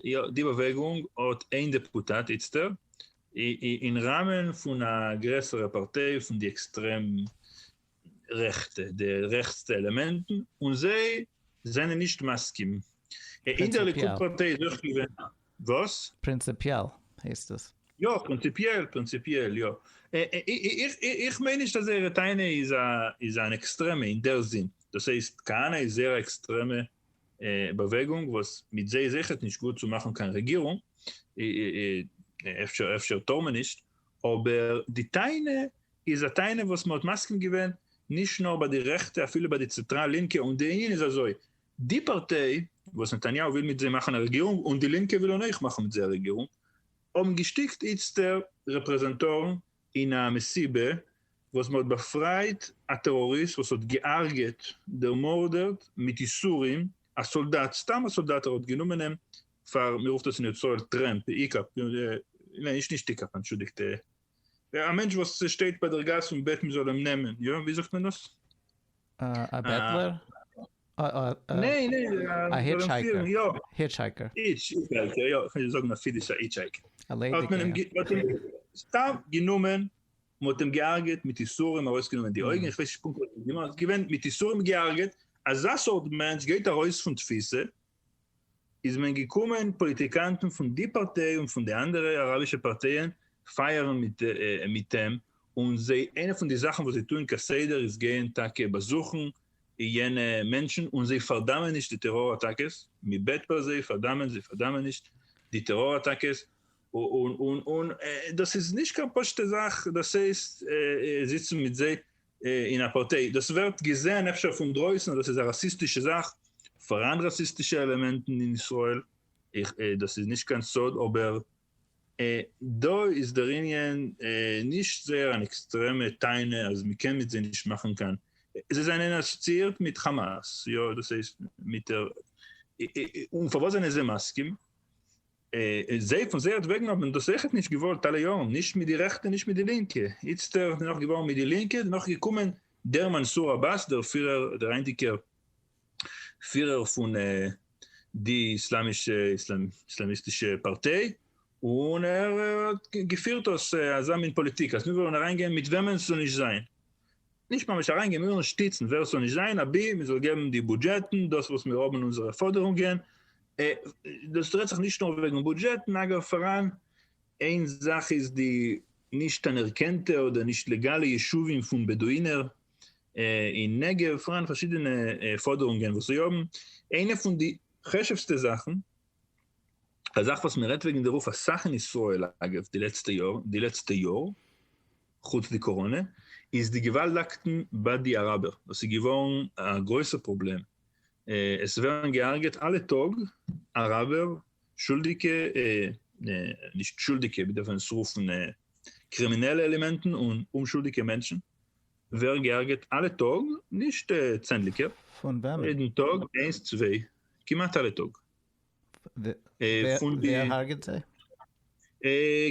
יא די באוועגונג האט איין דעפוטאט איצטער, אין ראמען פון א גרעסערע פארטיי פון די עקסטרעם רעכטע, די רעכטסטע עלעמענטן, און זיי זענען נישט מסכים, אין דער ליכוד פארטיי איז אויך געווען. וואס? פרינציפיעל הייסט עס. יא פרינציפיעל פרינציפיעל יא. איך מיין נישט אז זייערע טענה איז איז אן עקסטרעמע אין דער זין. דאס הייסט כהנא איז זייער עקסטרעמע באוועגונג וואס מיט זיי איז אויכעט נישט גוט צו מאכן קיין רעגירונג, אפשר אפשר טאר מען נישט, אבער די טענה איז א טענה וואס מען האט מסכים געווען נישט נאר ביי די רעכטע אפילו ביי די צעטראל לינקע און די ענין איז אזוי די פארטיי וואס נתניהו וויל מיט זיי מאכן א רעגירונג און די לינקע ווילן אויך מאכן מיט זיי א רעגירונג האבן געשטיקט איצטער רעפרעזענטארן אין א מסיבה וואס מ'האט באפרייט א טעראריסט וואס האט געהארגעט, דערמארדערט מיט איסורים, א סאלדאט, סתם א סאלדאט ער האט גענומען אים פאר, מ'רופט עס אין ישראל טרעמפ, היקאפ, נישט נישט היקאפ, אנטשולדיגט, א מענטש וואס שטייט ביי דער גאס און בעט מען זאל אים נעמען, יא ווי זאגט מען דאס? א בעטלער? ניין ניין, א היטשהייקער, היטשהייקער, היטשהייקער יא, כ'מיין זאגן א פידישער היטשהייקער, האט מען אים סתם גענומען, מען האט אים געהארגעט מיט יסורים, ארויסגענומען די אויגן, כ'ווייס נישט פונקט וואס מען האט גענומען, געווען מיט יסורים געהארגעט, אזא סארט מענטש גייט ארויס פון תפיסה, איז מען געקומען פאליטיקאנטן פון די פארטיי און פון די אנדערע אראבישע פארטייען פייערן מיט אים, און זיי איינע פון די זאכן וואס זיי טוען כסדר איז גייען טאקע באזוכן יענע מענטשן און זיי פארדאמען נישט די טעראר אטאקעס, מען בעט פאר זיי פארדאמען, זיי פארדאמען נישט די טעראר אטאקעס, און דאס איז נישט קיין פשוט'ע זאך, דאס הייסט זיצן מיט זיי אין א פארטיי, דאס ווערט געזען אפשר פונדרויסן אז דאס איז א ראסיסטישע זאך, פאראן ראסיסטישע עלעמענטן אין ישראל, דאס איז נישט קיין סוד, אבער דא איז דער ענין נישט זייער אן עקסטרעמע טענה אז מען קען מיט זיי נישט מאכן קיין, זיי זענען אסאציאירט מיט חאמאס, יא, דאס הייסט מיט דער, און פארוואס זענען זיי מסכים? און זיי פון זייערט וועגן האבן דאס אויכעט נישט געוואלט אלע יארן, נישט מיט די רעכטע נישט מיט די לינקע, איצטערט דערנאך געווארן מיט די לינקע, דערנאך איז געקומען דער מנסור עבאס דער פירער דער היינטיגער פירער פון די איסלאמישע איסלאמיסטישע פארטיי, און ער האט געפירט דאס אזא מין פאליטיק אז מיר וועלן אריינגיין מיט וועמען ס'זאל נישט זיין, נישט ממש אריינגיין, מיר וועלן שטיצן ווער ס'זאל נישט זיין, אבי מ'זאל געבן די בודזשעטן, דאס וואס מיר האבן אונזערע פאדערונגען, דאס רעדט זיך נישט נאר וועגן בודזשעטן, אגב פאראן איין זאך איז די נישט אנערקענטע אדער נישט לעגאלע ישובים פון בעדואינער אין נגב, פאראן פארשידענע פאדערונגען וואס זיי האבן, איינע פון די חשוב'סטע זאכן, א זאך וואס מען רעדט וועגן דערויף אסאך אין ישראל אגב די לעצטע יאר, די לעצטע יאר, חוץ די קאראנע, איז די געוואלדאקטן ביי די אראבער, דאס איז געווארן א גרויסע פראבלעם עס ווערן געהארגעט אלע טאג אראבער, שולדיגע, נישט שולדיגע, מען דארף עס רופן קרימינעלע עלעמענטן, און אומשולדיגע מענטשן ווערן געהארגעט אלע טאג, נישט צענדליגער, יעדן טאג איינס צוויי, כמעט אלע טאג. פון די ווער הארגעט זיי?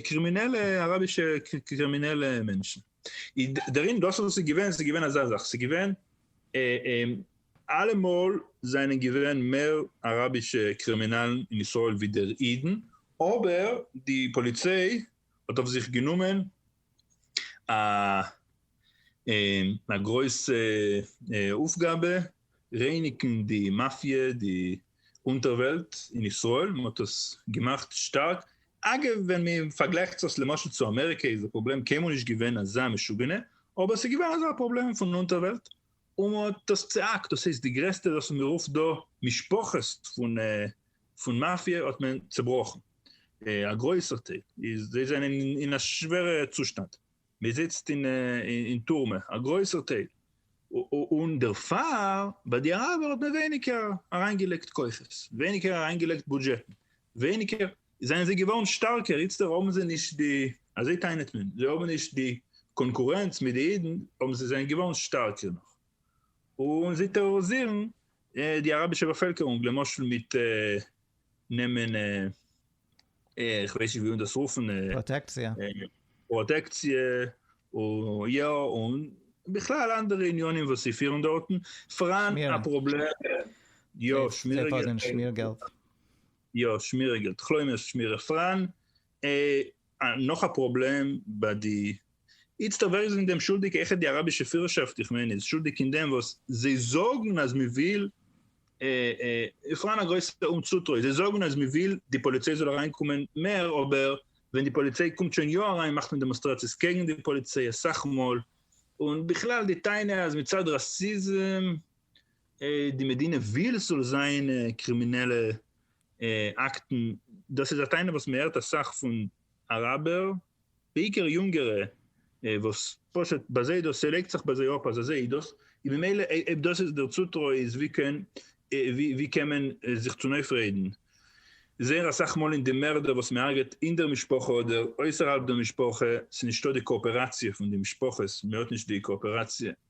קרימינעלע אראבישע קרימינעלע מענטשן, דערין דאס וואס ס'איז געווען ס'איז געווען אזא זאך, ס'איז געווען אלעמאל זענען געווען מער אראבישע קרימינאלן אין ישראל ווידער אידן, אבער די פאליציי האט אויף זיך גענומען א גרויסע אויפגאבע רייניגן די מאפיע די אונטערוועלט אין ישראל מען האט עס געמאכט שטארק, אגב ווען מען פארגלייכט זיך למשל צו אמעריקע איז די פראבלעם קיינמאל נישט געווען אזא משוגענע אבער עס איז געווען אזא פראבלעם פון אונטערוועלט און מען האט דאס צעהאקט, דאס הייסט די גרעסטע וואס מען רופט דא משפחות פון מאפיא האט מען צעבראכן, א גרויסער טייל איז זיי זענען אין א שווערע צושטאנד, מען זיצט אין טורמע א גרויסער טייל, און דערפאר ביי די אראבער האט מען ווייניגער אריינגעלייגט כוחות, ווייניגער אריינגעלייגט בודזשעטן, ווייניגער. זענען זיי געווארן שטארקער, איצטער האבן זיי נישט די, אזוי טענה'ט מען, זיי האבן נישט די קאנקורענץ מיט די אידן, אבער זיי זענען געווארן שטארקער נאך, און זיי טערארעזירן די אראבישע באפעלקערונג, למשל מיט נעמען, איך ווייס נישט ווי מען דאס רופן, פראטעקציע, יא, און בכלל אנדערע עניינים וואס זיי פירן דארטן, פאראן א פראבלעם, יא, שמירעגעלט. יא שמירה געלט, כלומרשט שמירה פראן ע. נאך א פראבלעם ביי די איצטער ווער איז אין דעם שולדיג העכער די אראבישע פירערשאפט איך מיין איז שולדיג אין דעם וואס זיי זאגן אז מען וויל ע פראן א גרויסע אומצוטרוי זיי זאגן אז מען וויל די פאליציי זאל אריין קומען מער אבער ווען די פאליציי קומט שוין יא אריין מאכט מען דעמאנסטראציעס קעגן די פאליציי אסאך מאל און בכלל די טענה אז מצד ראסיזם די מדינה וויל ס'זאל זיין קרימינעלע אקטן, דאס איז א טענה וואס מען הערט אסאך פון אראבער, בעיקר יונגערע, וואס פשוט ביי זיי דאס ס'לייגט זיך ביי זיי אפ אז אזוי איז דאס, און ממילא אויב דאס איז דער צוטרוי איז ווי קען ווי קען מען זיך צונויפרעדן? זייער אסאך מאל אין די מערדער וואס מען הרג'עט אין דער משפחה אדער אויסערהאלב דער משפחה, ס'נישטא די קאאפעראציע פון די משפחות, מען האט נישט די קאאפעראציע,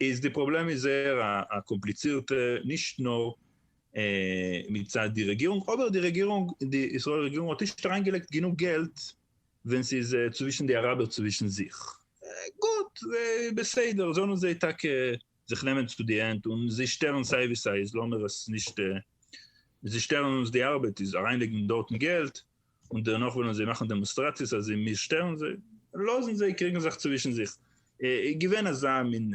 איז די פראבלעם איז זייער א קאמפליצירטע נישט נאר מצד די רעגירונג אבער די רעגירונג די ישראל רעגירונג האט נישט אריינגעלייגט גענוג געלט ווען ס'איז צווישן די אראבער צווישן זיך גוט בסדר זאלן זיי טאקע זיך נעמען צו די הענט און זיי שטערן סיי ווי סיי איז לאמיר עס נישט זיי שטערן אונז די ארבעט איז אריינלייגן דארטן געלט און דערנאך וועלן זיי מאכן דעמאנסטראציעס אז מיר שטערן זיי, לאזן זיי קריגן זיך צווישן זיך, געווען אזא מין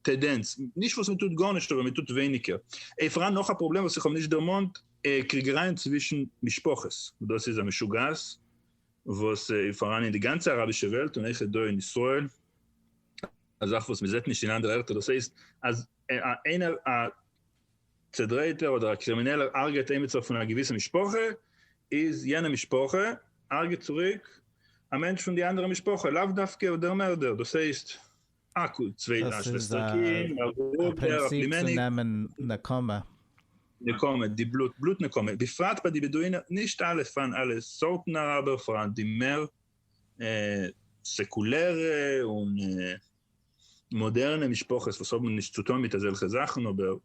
טעדענץ, נישט וואס מ'טוט גארנישט אבער מ'טוט ווייניגער, און פאראן נאך א פראבלעם וואס איך האב נישט דערמאנט, קריגערייען צווישן משפחות, דאס איז א משוגעת וואס איז פאראן אין די גאנצע אראבישע וועלט און אויכעט דא אין ישראל, א זאך וואס מ'זעט נישט אין אנדערע ערטער, דאס הייסט אז איינער א צעדרייטער אדער א קרימינעלער הרג'עט עימיצער פון א געוויסע משפחה, איז יענע משפחה הרג'עט צוריק א מענטש פון די אנדערע משפחה, לאו דווקא דער מערדער, דאס הייסט א קו צוויי א שוועסטער קינד, א ברודער, א פלימעניק. נקמה, די בלוט, בלוט נקמה, בפרט ביי די בעדואינער, נישט אלע, פארן אלע סארטן אראבער, פארהאן די מער סעקולערע און. מאדערנע משפחות וואס האבן נישט צוטון מיט אזעלכע זאכן אבער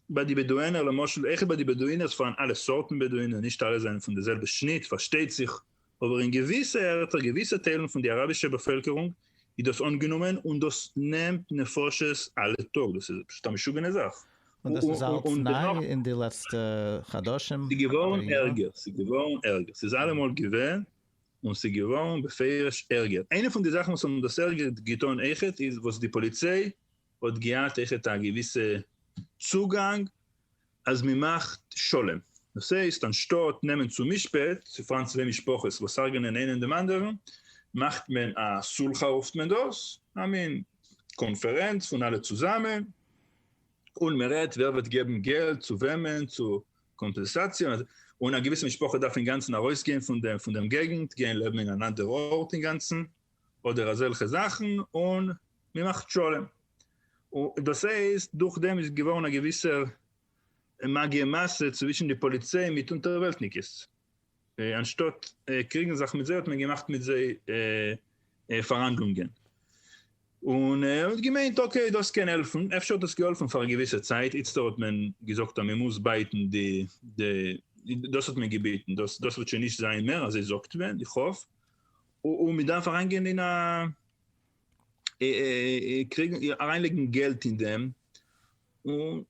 ביי די בעדואינער למשל עכ פ ביי די בעדואינער ס'פארהאן אלע סארטן בעדואינער נישט אלע זענען פון די זעלבע שניט פארשטייט זיך אבער אין געוויסע ערטער געוויסע טיילן פון די אראבישע באפעלקערונג איז דאס אנגענומען און דאס נעמט נפשות אלע טאג דאס איז פשוט א משוגענע זאך און דאס איז אלץ ניי אין די לעצטע חדשים? ס'געווארן ערגער ס'געווארן ערגער ס'איז אלעמאל געווען און ס'איז געווארן בפירוש ערגער. איינע פון די זאכן וואס האבן דאס ערגער געטון אויכעט איז וואס די פאליציי האט געהאט אויכעט א געוויסע צוגאנג אז מען מאכט שלום. דאס הייסט אנשטאט נעמען צו משפט צו פארן צוויי משפחות וואס הרג'נען איינעם דעם אנדערן, מאכט מען א סולחה רופט מען דאס, א מין קאנפערענץ פון אלע צוזאמען, און מען רעדט ווער וועט געבן געלט צו וועמען, צו קאמפענסאציע, און א געוויסע משפחה דארף אינגאנצן ארויסגיין פון דעם געגנט, גיין לעבן אין אן אנדערע ארט אינגאנצן, אדער אזעלכע זאכן, און מען מאכט שלום. דאס הייסט, דורך דעם איז געווארן א געוויסער מגיה מעשה צווישן די פאליציי מיט אונטערוועלטניקעס. אנשטאט קריגן זיך מיט זיי האט מען געמאכט מיט זיי פאראנדלונגען, און ער האט געמיינט אקעי דאס קען העלפן, אפשר האט דאס געהאלפן פאר א געוויסע צייט, איצטער האט מען געזאגט אז מען מוז בייטן די די דאס האט מען געבעטן, דאס דאס וועט שוין נישט זיין מער אזוי זאגט מען, איך האף, און מען דארף אריינגיין אין א קריגן אריינלייגן געלט אין דעם,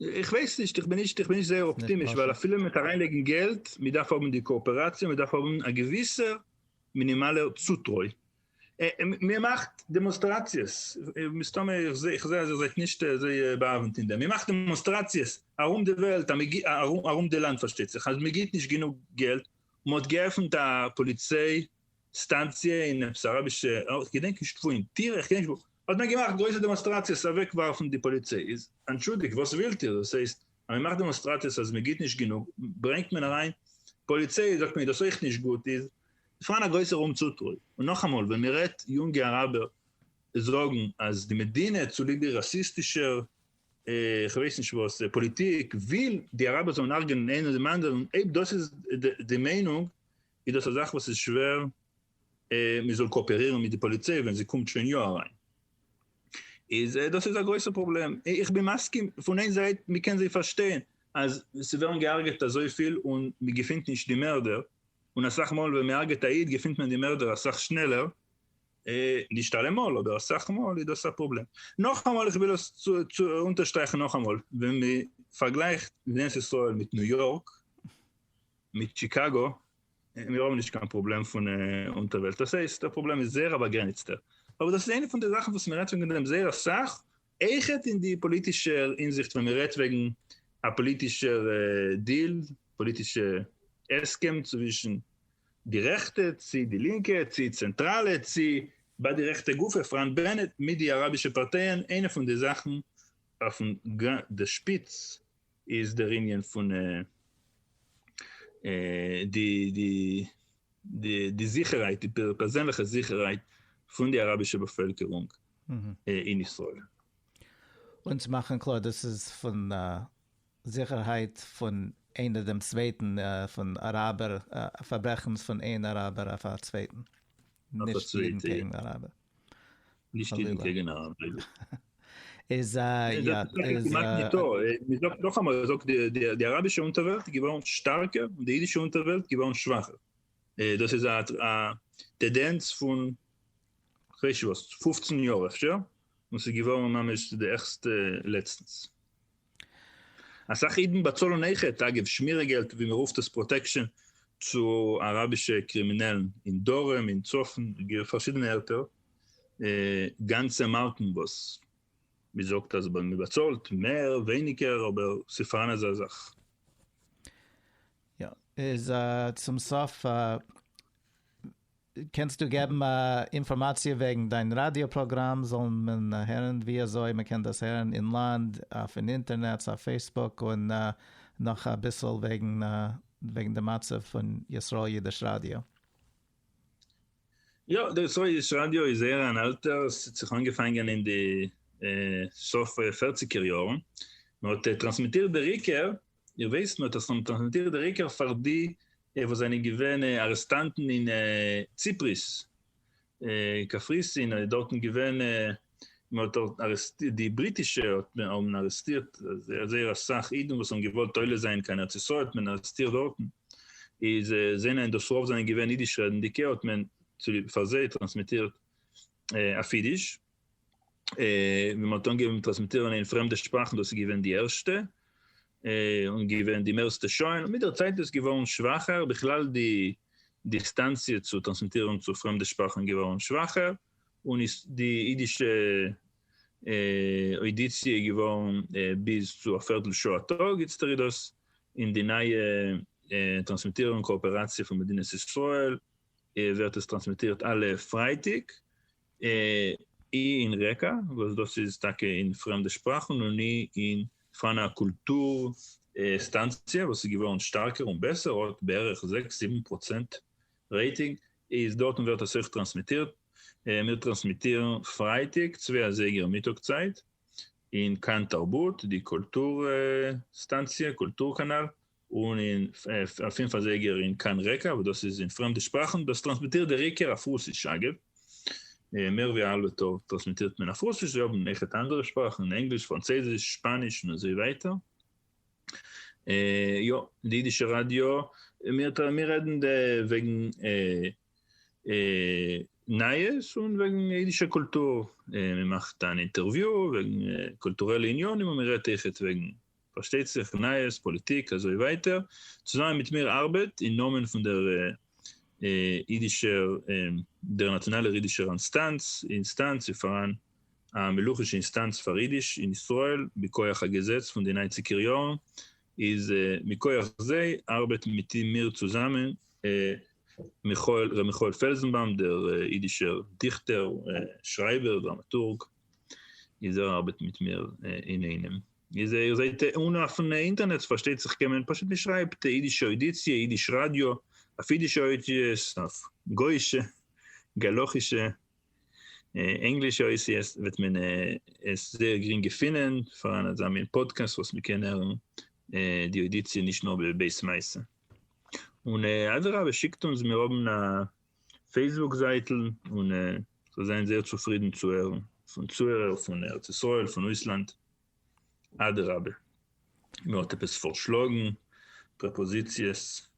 איך ווייס נישט, איך בין נישט איך בין נישט זייער אפטימיש, ווייל אפילו מיט אריינלייגן געלט, מען דארף האבן די קאאפעראציע, מען דארף האבן א געוויסע מינימאלע צוטרוי. מען מאכט דעמאנסטראציעס, מסתמא איך זע איך זע אז איר זענט נישט אזוי באהאווענט אין דעם, מען מאכט דעמאנסטראציעס ארום די וועלט, ארום די לאנד פארשטייט זיך, אז מען גיבט נישט גענוג געלט, מען האט געעפנט א פאליציי סטאנציע אין עפעס אראבישע, איך געדענק נישט וואו, אין טירעך, איך געדענק נישט וואו, האט מען געמאכט גרויסע דעמאנסטראציעס אוועק ווארפן די פאליצעיס, אנטשולדיגט וואס ווילט איר, דאס הייסט אז מען מאכט דעמאנסטראציעס אז מען גיט נישט גענוג ברענגט מען אריין פאליצעיס זאגט מען איז דאס אויך נישט גוט איז פארהאן א גרויסער אומצוטרוי, און נאכאמאל ווען מען רעדט יונגע אראבער זאגן אז די מדינה צוליב די ראסיסטישער כ'ווייס נישט וואס פאליטיק וויל די אראבער זאלן הרג'נען איינער דעם אנדערן אויב דאס איז די מיינונג איז דאס א זאך וואס איז שווער מען זאל קאאפערירן מיט די פאליציי ווען זי קומט שוין יא אריין, איז דאס איז א גרויסע פראבלעם, איך בין מסכים פון איין זייט מען קען זיי פארשטיין אז ס'ווערן געהארגעט אזויפיל און מען געפינט נישט די מערדער, און אסאך מאל ווען מען הרג'עט א איד געפינט מען די מערדער אסאך שנעלער, נישט אלעמאל אבער אסאך מאל איז דאס א פראבלעם, נאכאמאל איך וויל עס אונטערשטרייכן נאכאמאל ווען מען פארגלייכט מדינת ישראל מיט ניו יארק, מיט שיקאגא, מיר האבן נישט קיין פראבלעם פון אונטערוועלט, דאס הייסט דער פראבלעם איז זייער א באגרעניצטער, אבער דאס איז איינע פון די זאכן וואס מען רעדט וועגן דעם זייער אסאך, אייכעט אין די פאליטישע הינזיכט ווען מען רעדט וועגן א פאליטישע דיל, פאליטישע הסכם צווישן די רעכטע צי די לינקע צי צענטראלע צי ביי די רעכטע גופא פראנט בענעט מיט די אראבישע פארטייען, איינע פון די זאכן אויפן די שפיץ איז דער ענין פון די די די די זיכערהייט די פערזענליכע זיכערהייט פון די אראבישע באפעלקערונג אין ישראל. אונז מאכן קלאר דאס איז פון זיכערהייט פון איינער דעם צווייטן פון אראבער פארברעכנס פון איין אראבער אויף א צווייטן. נישט אידן קעגן אראבער. נישט אידן קעגן אראבער. איז א יא איז א. מ'זאגט נאכאמאל מ'זאגט די אראבישע אונטערוועלט איז געווארן שטארקער און די אידישע אונטערוועלט געווארן שוואכער. דאס איז א טעדענץ פון כ'ווייס שוואס פֿופֿצן יאר אפשר, און ס'איז געווארן ממש די ערגסטע לעצטנס. אסאך אידן באצאלן אייכעט, אגב שמירה געלט ווי מען רופט עס פראטעקשאן, צו אראבישע קרימינעלן אין דרום אין צפון גיי פארשידענע ערטער, גאנצע מארקן וואס מען זאגט אז מען באצאלט מער ווייניגער אבער ס'איז פארהאן אזא זאך. יא, איז צום סוף קענסטו געבן אינפארמאציע וועגן דיין ראדיא פראגראם זאל מען הערן ווי אזוי מען קען דאס הערן אין לאנד אויפן אינטערנעץ אויף פעיסבוק און נאך אביסל וועגן וועגן די מצב פון ישראל אידיש ראדיא. יא די ישראל אידיש ראדיא איז זייער אן אלטע ס'האט זיך אנגעפאנגען אין די סוף פערציגער יארן מען האט טראנסמיטירט בעיקר איך ווייס מען האט עס טראנסמיטירט בעיקר פאר די די וואס זענען געווען ארעסטאנטן אין ציפריס, קפריסין, און דארטן געווען, מען האט דארט ארעסטירט, די בריטישע האבן ארעסטירט זייער אסאך אידן וואס האבן געוואלט עולה זיין קיין ארץ ישראל האט מען ארעסטירט דארטן, איז זענען דאס רוב זענען געווען אידיש רעדנדיגע האט מען צוליב פאר זיי טראנסמיטירט אויף אידיש. ווען מען האט אנגעהויבן מיט טראנסמיטירן אין פרעמדע שפראכן דאס איז געווען די ערשטע און געווען די מערסטע שוין, מיט דער צייט איז עס געווארן שוואכער, בכלל די דיסטאנציע צו טראנסמיטירן צו פרעמדע שפראכן געווארן שוואכער, און איז די אידישע אוידיציע געווארן ביז צו א פערטל שעה א טאג, איצטער איז דאס אין די נייע טראנסמיטירן קאאפעראציע פון מדינת ישראל ווערט עס טראנסמיטירט אלע פרייטאג אי אין רעקא, וואס דאס איז טאקע אין פרעמדע שפראכן, און אי אין פאנא קולטור סטאנציע, וואס איז געווארן שטארקער און בעסער, האט בערך זעקס זיבן פראצענט רעיטינג, איז דארטן ווערט עס אויך טראנסמיטירט, מיר טראנסמיטירן פרייטאג צוויי אזייגער מיטאג צייט, אין כאן תרבות, די קולטור סטאנציע, קולטור קאנאל, און אין א פֿינף אזייגער אין קאן רעקא וואס דאס איז אין פרעמדע שפראכן, דאס טראנסמיטירט דער עיקר אויף רוסיש, אגב, מער ווי א האלבע טאג טראנסמיטירט מען אויף רוסיש, זיי האבן עכט אנדערע שפראכן, ענגליש, פראנצייזיש, שפאניש און אזוי ווייטער. יא, די אידישע ראדיא, מיר רעדן וועגן נייעס און וועגן אידישע קולטור, מען מאכט אן אינטערוויו וועגן קולטורעלע עניינים און מען רעדט עכט וועגן פארשטייט זיך נייעס, פאליטיק, אזוי ווייטער, צוזאמען מיט מיר ארבעט אין נאמען פון דער אידישער, דער נאציאנאלער אידישער אינסטאנץ, אינסטאנץ ווי פאראן א מלוכישע אינסטאנץ פאר אידיש אין ישראל, בכח א געזעץ פון די ניינציגער יארן, איז מכח זיי ארבעט מיט מיר צוזאמען מיכאל, ר' מיכאל פעלזענבאום, דער אידישער דיכטער, שרייבער, דראמאטורג, איז ער ארבעט מיט מיר אינאיינעם. איז איר זעט אן אפענע אינטערנעץ פארשטייט זיך קען מען פשוט נישט שרייבט אידישע אודיציע אידיש ראדיא אויף אידישע אותיות אויף גוישע גלח'ישע ענגלישע אותיות וועט מען עס זייער גרינג געפינען פאר אן אזא מין פאדקעסט וואס מען קען הערן די אודיציע נישט נאר בעת מעשה און אדרבה שיקט אונז מיר האבן א פעיסבוק זייטל, און זיי זענען זייער צופרידן צו הערן פון צוהערער פון ארץ ישראל, פון אויסלאנד. אדרבה, מען האט עפעס פארשלאגן, פרעפאזיציעס,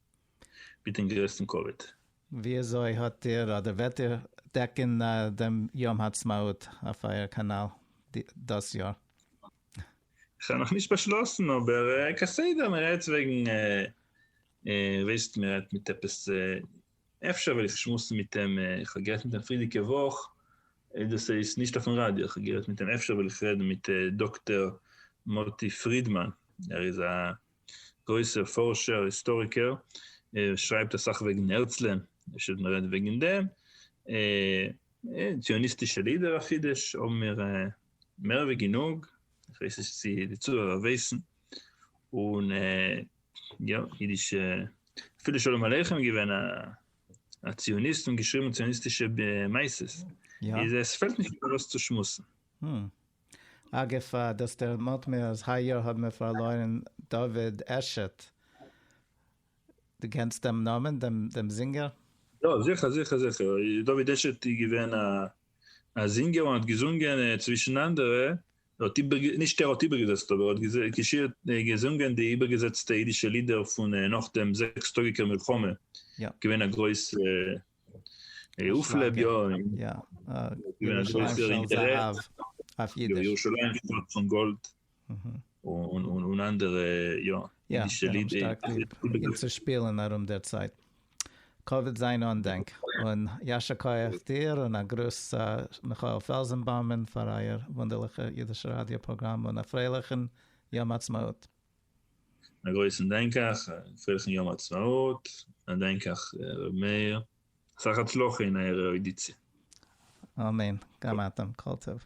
מיטן גרעסטן כבוד. וויאזוי האט איר אדער וועט איר דעקן דעם יום העצמאות אויף אייער קאנאל דאס יאר? כ'האב נאכנישט באשלאסן, אבער כסדר מ'רעדט וועגן וועסט מ'רעדט מיט עפעס אפשר וועל איך שמועסן מיט אים, איך האב גערעדט מיט אים פרידיגע וואך, דאס איז נישט אויפן ראדיא, איך האב גערעדט מיט אים, אפשר וועל איך רעדן מיט דאקטער מוטי פרידמאן, ער איז א גרויסער פארשער היסטאריקער, ער שרייבט אסאך וועגן הרצל'ען, אפשר וועט מען רעדן וועגן דעם, ציוניסטישע לידער אויף אידיש האבן מיר מער ווי גענוג, איך ווייס נישט צו די צוהערער ווייסן, און יא, אידישע, אפילו שלום עליכם איז געווען א ציוניסט און געשריבן ציוניסטישע מעשות. איז עס פעלט נישט איבער וואס צו שמועסן. הום. אגב, דאס דערמאנט מיר אז היי יאר האבן מיר פארלוירן דוד עשת. דו קענסט דעם נאמען, דעם זינגער? יא, זיכער, זיכער, זיכער. דוד עשת איז געווען א זינגער און האט געזונגען צווישן אנדערע ער האט איבער, נישט ער האט איבערגעזעצט אבער ער האט געזשירט, געזונגען די איבערגעזעצטע אידישע לידער פון נאך דעם זעקס טאגיקער מלחמה, געווען א גרויס אויפלעב, יא, געווען א גרויסער אינטערעס, ירושלים שטאט פון גאלד, און אנדערע, יא, אידישע לידער, און צו שפילען ארום דער צייט. קאוויד זיין אנדענק, און יישר כח דיר, און א גרוס צו מיכאל פעלזענבאומען פאר אייער וואונדערליכע אידישע ראדיא פראגראם, און א פרייליכן יום עצמאות. א גרויסן דענקעך, א פרייליכן יום עצמאות, א דענקעך ר' מאיר, אסאך הצלחה אין אייער ערודיציע. אמן, גם אתם, כל טוב.